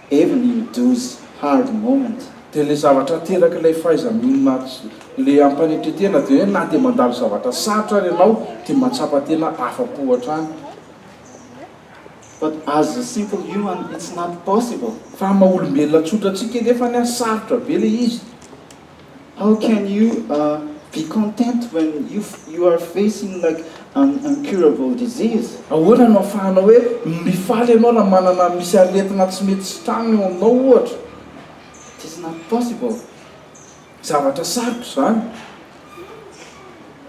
Evelyn Douze, Hard Moment. Dia ilay zavatra ateraky ilay fahaiza-mionona sy ilay hampanetren-tena dia hoe na dia mandalo zavatra sarotra ary ianao dia mahatsapa tena afa-po hatrany. But as a simple human it's not possible. Fa maha-olombelona tsotra antsika anefa ny ahy sarotra be ilay izy. How can you be content when you are facing like an incurable disease? Ahoana no ahafahanao hoe mifaly ianao raha manana misy aretina tsy mety sitrana eo aminao ohatra? It is not possible. Zavatra sarotra izany.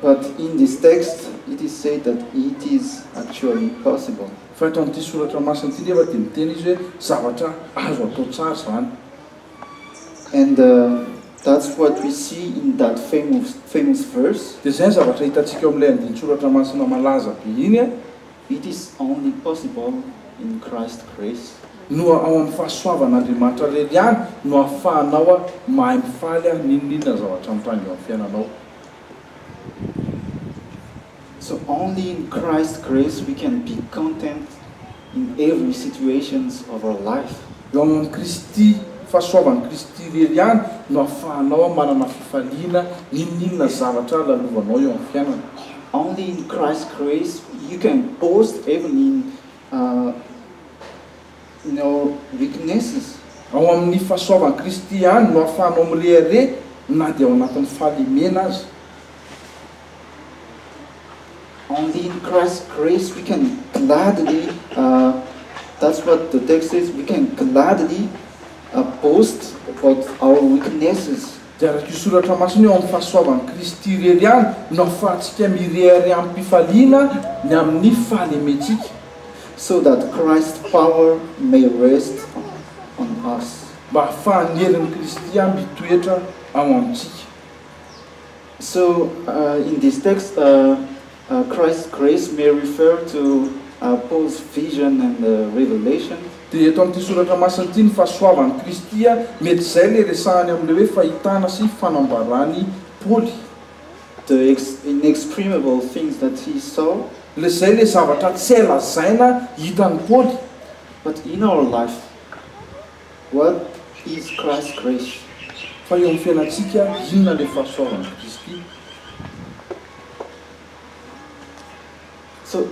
But in this text it is said that it is actually possible. Fa eto amin'ity soratra masina ity nefa dia miteny izy hoe zavatra azo atao tsara izany. And that's what we see in that famous verse. Dia izay ny zavatra hitantsika ao amin'ilay andinin-tsoratra masina malaza be iny an. It is only possible in Christ's grace. Noa ao amin'ny fahasoavan'Andriamanitra irery ihany no ahafahanao mahay mifaly an n'inon'inona zavatra mitranga eo amin'ny fiainanao. So only in Christ's grace we can be content. in every situations of our life. Eo amin'i Kristy, fahasoavan'i Kristy irery ihany no ahafahanao manana fifaliana n'inon'inona zavatra lalovanao eo amin'ny fiainana. Only in Christ's grace you can boast even in in your weaknesses. Ao amin'ny fahasoavan'i Kristy ihany no ahafahanao mirehareha na dia ao anatin'ny fahalemena aza. Andininy Christ grace we can gladly that's what the text says we can gladly boast about our weaknesses. Dia araka io soratra masina io ao amin'ny fahasoavan'i Kristy irery ihany no ahafahantsika mirehareha amim-pifaliana ny amin'ny fahalementsika. So that Christ's power may rest on us. Mba ahafahan'ny herin'i Kristy mitoetra ao amintsika. So in this text Christ's grace may refer to Paul's vision and revelation? Dia eto amin'ity soratra masina ity ny fahasoavan'i Kristy a, mety izay ilay resahany amin'ilay hoe fahitana sy fanambaran'i Paoly. The inexprimable things that he saw? Ilay izay ilay zavatra tsy hay lazaina hitan'i Paoly. But in our life? What is Christ's grace? Fa eo amin'ny fiainantsika, inona ilay fahasoavan'i Kristy? So,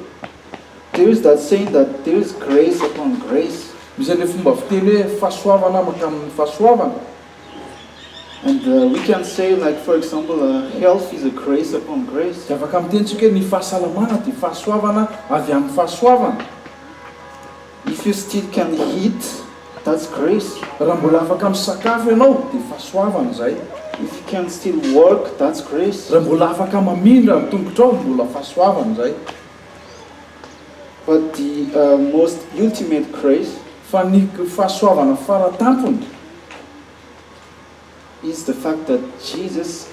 there is that saying that there is grace upon grace. Misy an'ilay fomba fiteny hoe fahasoavana mankamin'ny fahasoavana. And we can say like for example, health is a grace upon grace. Dia afaka miteny isika hoe ny fahasalamana dia fahasoavana avy amin'ny fahasoavana. If you still can eat, that's grace. Raha mbola afaka misakafo ianao dia fahasoavana izay. If you can still walk, that's grace. Raha mbola afaka mamindra ny tongotrao, mbola fahasoavana izay. But the most ultimate grace. Fa ny fahasoavana fara tampony. It's the fact that Jesus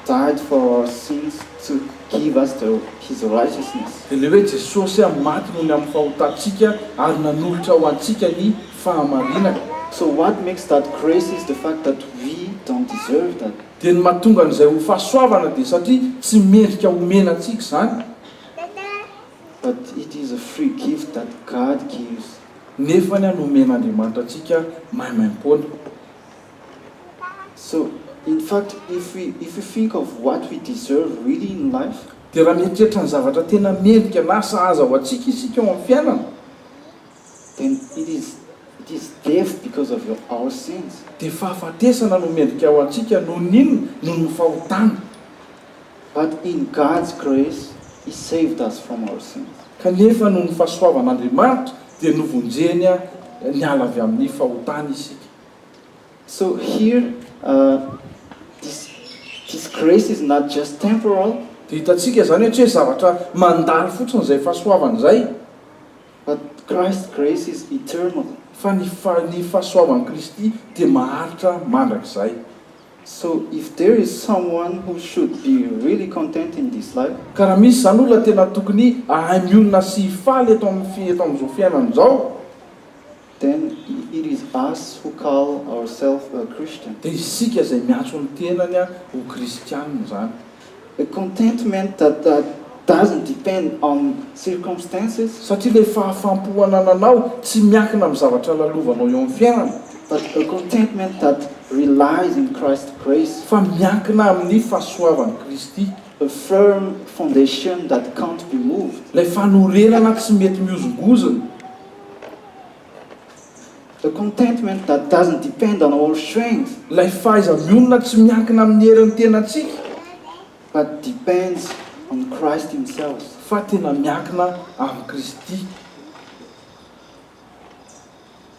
died for our sins to give us the His righteousness. Dia ilay hoe Jesosy maty noho ny amin'ny fahotantsika ary nanolotra ho antsika ny fahamarinana. So what makes that grace is the fact that we don't deserve that. Dia ny mahatonga an'izay ho fahasoavana dia satria tsy mendrika omena antsika izany. But it is a free gift that God gives. Nefany nomen'Andriamanitra antsika maimaim-poana. So in fact if we if we think of what we deserve really in life, Dia raha mieritreritra ny zavatra tena mendrika na sahaza ho antsika isika eo amin'ny fiainana, then it is it is death because of your our sins. Dia fahafatesana no mendrika ho antsika noho ny inona? Noho ny fahotana. But in God's grace He saved us from our sins. Kanefa noho ny fahasoavan'Andriamanitra dia novonjeny niala avy amin'ny fahotana isika. So here this disgrace is not just temporal. Dia hitantsika izany hatria zavatra mandalo fotsiny izay fahasoavana izay. But Christ's grace is eternal. Fa ny ny fahasoavan'i Kristy dia maharitra mandrakizay. So if there is someone who should be really content in this life. Ka raha misy izany olona tena tokony hahay mionona sy hifaly eto amin'ny eto amin'izao fiainana izao. Then it is us who call ourself a Christian. Dia isika izay miantso ny tenany ho kristianina izany. A contentment that doesn't depend on circumstances. Satria ilay fahafam-po anananao tsy miankina amin'ny zavatra lalovanao eo amin'ny fiainana. But a contentment that relies in Christ's grace. Fa miankina amin'ny fahasoavan'i Kristy. A firm foundation that can't be moved. Ilay fanorenana tsy mety mihozongozona. The contentment that doesn't depend on our strength. Ilay fahaiza-mionona tsy miankina amin'ny herin'ny tenantsika. But depends on Christ himself. Fa tena miankina amin'i Kristy.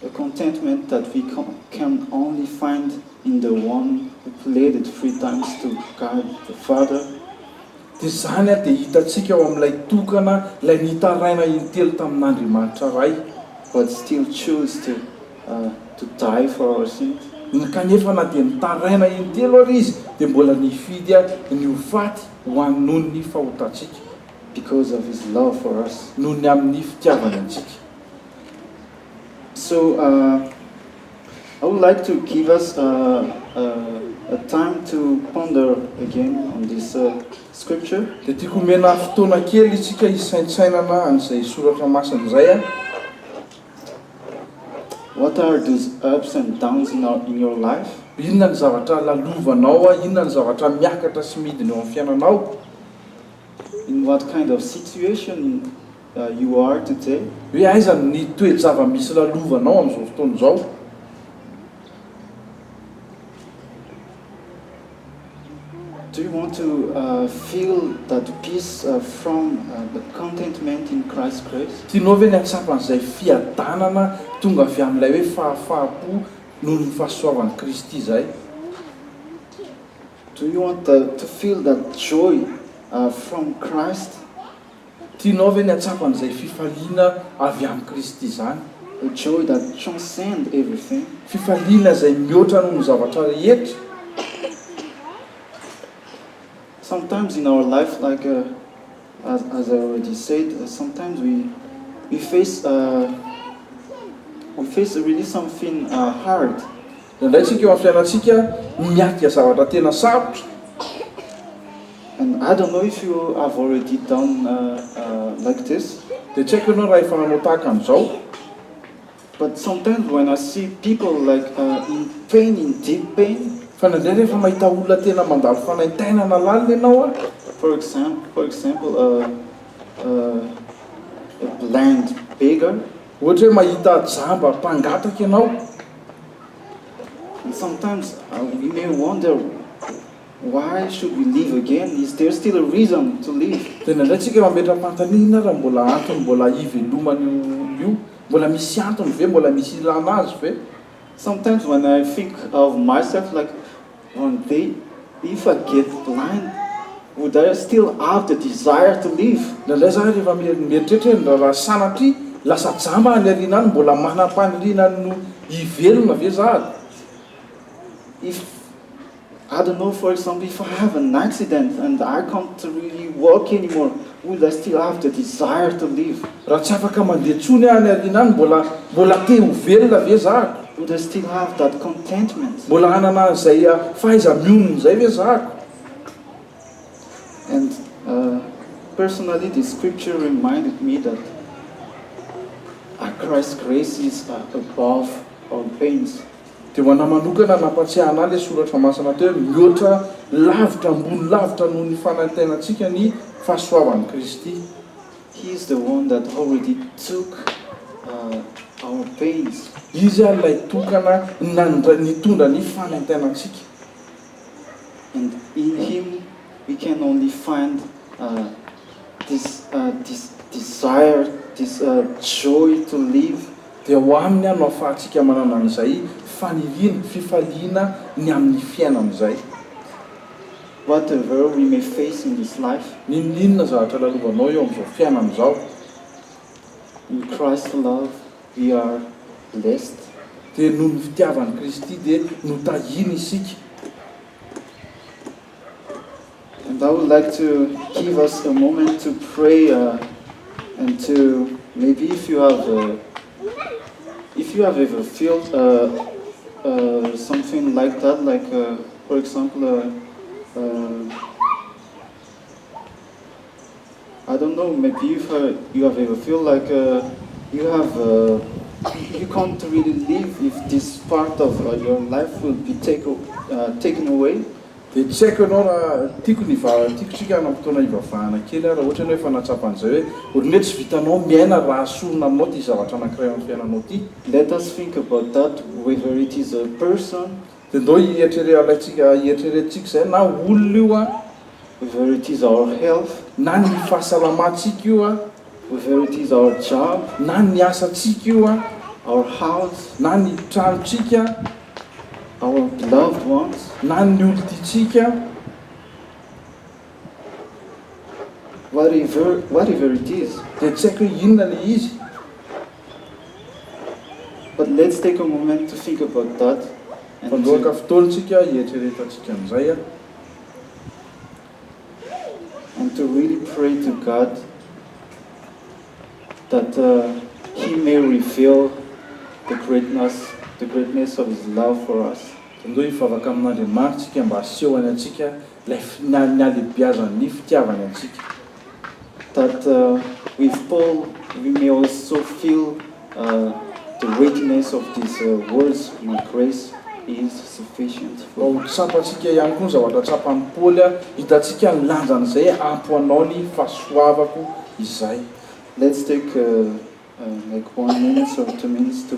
A contentment that we can only find in the one who pleaded three times to God the Father. Dia izany dia hitantsika ao amin'ilay tokana ilay nitaraina intelo tamin'Andriamanitra Ray. But still choose to to die for our sins. Ny kanefa na dia nitaraina intelo ary Izy dia mbola nifidy ny ho faty ho an noho ny fahotantsika. Because of His love for us. Noho ny amin'ny fitiavany antsika. So I would like to give us a a time to ponder again on this scripture. Dia tiako omena fotoana kely isika hisaintsainana an'izay soratra masina izay aho. What are those ups and downs in our in your life? Inona ny zavatra lalovanao, inona ny zavatra miakatra sy midina eo amin'ny fiainanao? In what kind of situation? you are today? Hoe aiza ny toe-java-misy lalovanao amin'izao fotoana izao? Do you want to feel that peace from the contentment in Christ's grace? Tianao ve ny hahatsapa an'izay fiadanana tonga avy amin'ilay hoe fahafahampo noho ny fahasoavan'i Kristy izay? Do you want to feel that joy from Christ? Tianao ve ny hahatsapa an'izay fifaliana avy amin'i Kristy izany? A joy that transcends everything. Fifaliana izay mihoatra noho ny zavatra rehetra. Sometimes in our life, like as as I already said, sometimes we we face we face really something hard, Indraindray isika eo amin'ny fiainantsika no miatrika zavatra tena sarotra. And I don't know if you have already done like this. Dia tsy haiko ianao raha efa nanao tahaka an'izao. But sometimes when I see people like in pain, in deep pain. Fa indraindray rehefa mahita olona tena mandalo fanaintainana lalina ianao a. For example, for example a a blind beggar. Ohatra hoe mahita jamba mpangataka ianao, sometimes we may wonder why should we live again, is there still a reason to live? Dia indraindray tsika mametra-panontaniana raha mbola antony mbola hivelomany io io, mbola misy antony ve, mbola misy ilana azy ve? Sometimes when I think of myself like One day if I get the line would I still have the desire to live? Indraindray za rehefa mieritreritra hoe ny raharaha sanatria lasa jamba any aoriana any mbola manam-paniriana ny ho hivelona ve za ary? If I don't know for example if I have an accident and I can't really walk anymore. Hoy lahy sty lavitra desire to live raha tsy afaka mandeha tsony any arina any mbola mbola te ho velona ve zah? Would I still have that contentment? Mbola hanana an'izay fahaiza mionona izay ve zah? And personally this scripture reminded me that a Christ grace is above all things Dia ho anà manokana, nampatsiahanà ilay soratra masina teo hoe, Mihoatra lavitra, ambony lavitra noho ny fanantenantsika ny fahasoavan'i Kristy. He is the one that already took our pains. Izy ilay tokana nitondra ny fanantenantsika. and in him we can only find this this desire, this joy to live. Dia ao Aminy aho no ahafahantsika manana an'izay faniriana, fifaliana ny amin'ny fiainana izay. Whatever we may face in this life. N'inon'inona zavatra lalovanao eo amin'izao fiainana izao. In Christ's love. We are blessed dia noho ny fitiavan'i Kristy dia notahiny isika. And I would like to give us a moment to pray and to maybe if you have if you have ever felt something like that like for example I don't know, maybe you you have ever feel like you have you can't really live if this part of your life will be take taken away. Dia tsy haiko ianao raha tiako ny va tiako tsika hanana fotoana hivavahana kely ary raha ohatra ianao efa nahatsapa an'izay hoe olona hoe tsy vitanao miaina raha sorona aminao ity zavatra anankiray ao amin'ny fiainanao ity. Let us think about that, whether it is a person Dia ndao hieritrere alaintsika hieritreretintsika izay na olona io an, whether it is our health, na ny fahasalamantsika io an, whether it is our job, na ny asantsika io an, our house, na ny tranontsika, our beloved ones, na ny olon-tiantsika. Whatever, whatever it is, dia tsy haiko hoe inona ilay izy. But let's take a moment to think about that and. Mandoaka fotoantsika hieritreretantsika an'izay an. And to really pray to God that He may reveal the greatness, the greatness of His love for us. Dia mitohy hivavaka amin'Andriamanitra isika mba hasehony antsika Ilay fihinan'ny halehibiazan'ny fitiavana antsika. That with Paul we may also feel the weightiness of this world's my grace is sufficient for you. Mba ho tsapantsika ihany koa ny zavatra tsapan'i Paoly, hitantsika ny lanjan'izay ampy ho anao ny fahasoavako izay. Let's take like one minutes or two minutes to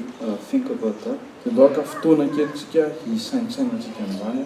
think about that. Dia andohaka fotoana kely tsika hisaintsaina antsika an'izany.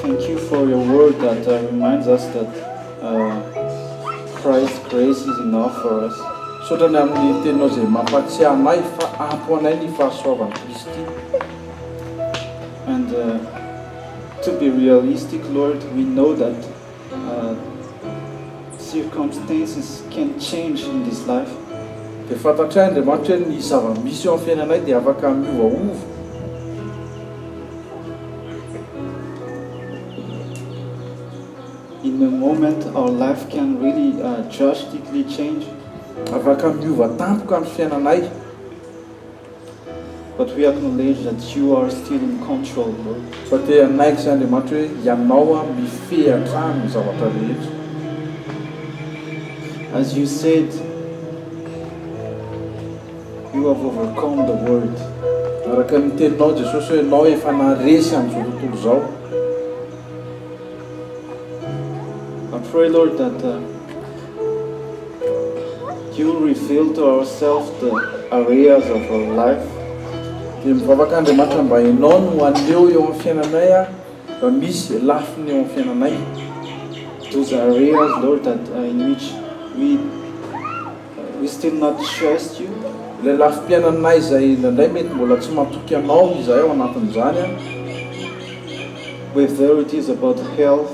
Thank you for your word that reminds us that Christ's grace is enough for us. Misaotra ny amin'ny teninao izay mampahatsiahy anay fa ampy ho anay ny fahasoavan'i Kristy. And to be realistic Lord, we know that. Circumstances can change in this life. Dia fantatray Andriamanitra hoe ny zava-misy eo amin'ny fiainanay dia afaka miovaova. In a moment our life can really drastically change. Afaka miova tampoka ny fiainanay. But we acknowledge that you are still in control bro. Fa te hanaiky izay Andriamanitra hoe ianao aho mifehy hatrany ny zavatra rehetra. As you said you have overcome the world. Araka ny teninao Jesosy hoe ianao efa naharesy an'izao tontolo izao. I pray Lord that. You reveal to ourself the areas of our life dia mivavaka Andriamanitra mba Ianao no haneho eo amin'ny fiainanay aho raha misy izay lafiny eo amin'ny fiainanay those areas Lord that in which we we still not trust you ilay lafim-piainanay izay indraindray mety mbola tsy matoky Anao izahay ao anatin'izany an whether it is about health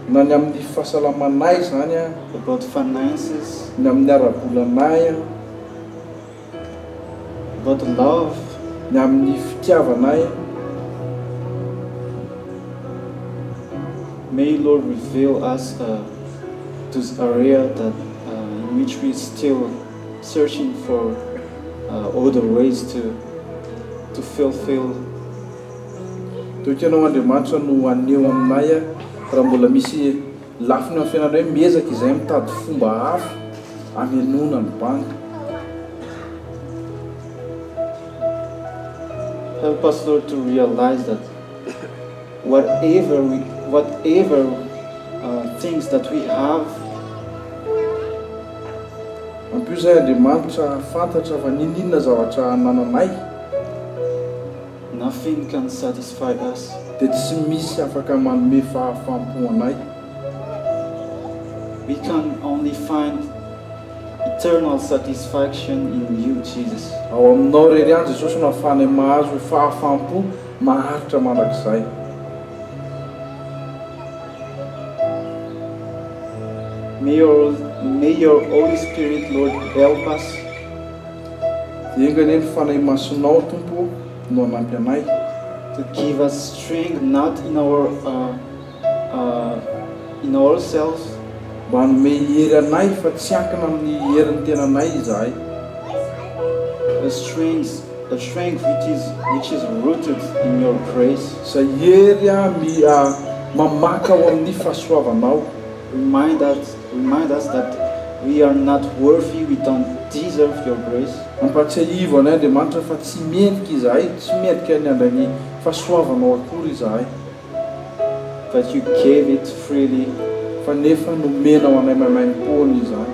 Na ny amin'ny fahasalamanay izany an. About finances. Ny amin'ny ara-bolanay an. About love. Ny amin'ny fitiavanay an. May Lord reveal us those area that in which we still searching for other ways to to fulfill. Toy Ianao Andriamanitra no haneho aminay ahy raha mbola misy lafiny eo amin'ny fiainanay hoe miezaka izahay mitady fomba hafa hamenoana ny bandy. Help us Lord to realize that whatever we whatever things that we have. Ampio izahay Andriamanitra hahafantatra fa n'inon'inona zavatra anananay. Na feno can satisfy us. Dia tsy misy afaka manome fahafam-po anay. We can only find eternal satisfaction in you Jesus. Ao Aminao irery ihany Jesosy no ahafahanay mahazo fahafam-po maharitra mandrakizay. May your May your Holy Spirit Lord help us. Enga anie ny Fanahy Masinao Tompo o no hanampy anay. To give us strength not in our in our self. Mba hanome hery anay fa tsy ankina amin'ny herin'ny tenanay izahay. A strength a strength which is which is rooted in your grace. Izay hery a mi a mamaka ao amin'ny fahasoavanao. Remind us We might ask that we are not worthy, we don't deserve your grace. Ampahatsiahivo anay Andriamanitra fa tsy mendrika izahay, tsy mendrika ny handray ny fahasoavanao akory izahay. That you gave it freely, fa nefa nomenao anay maimaimpoana izany.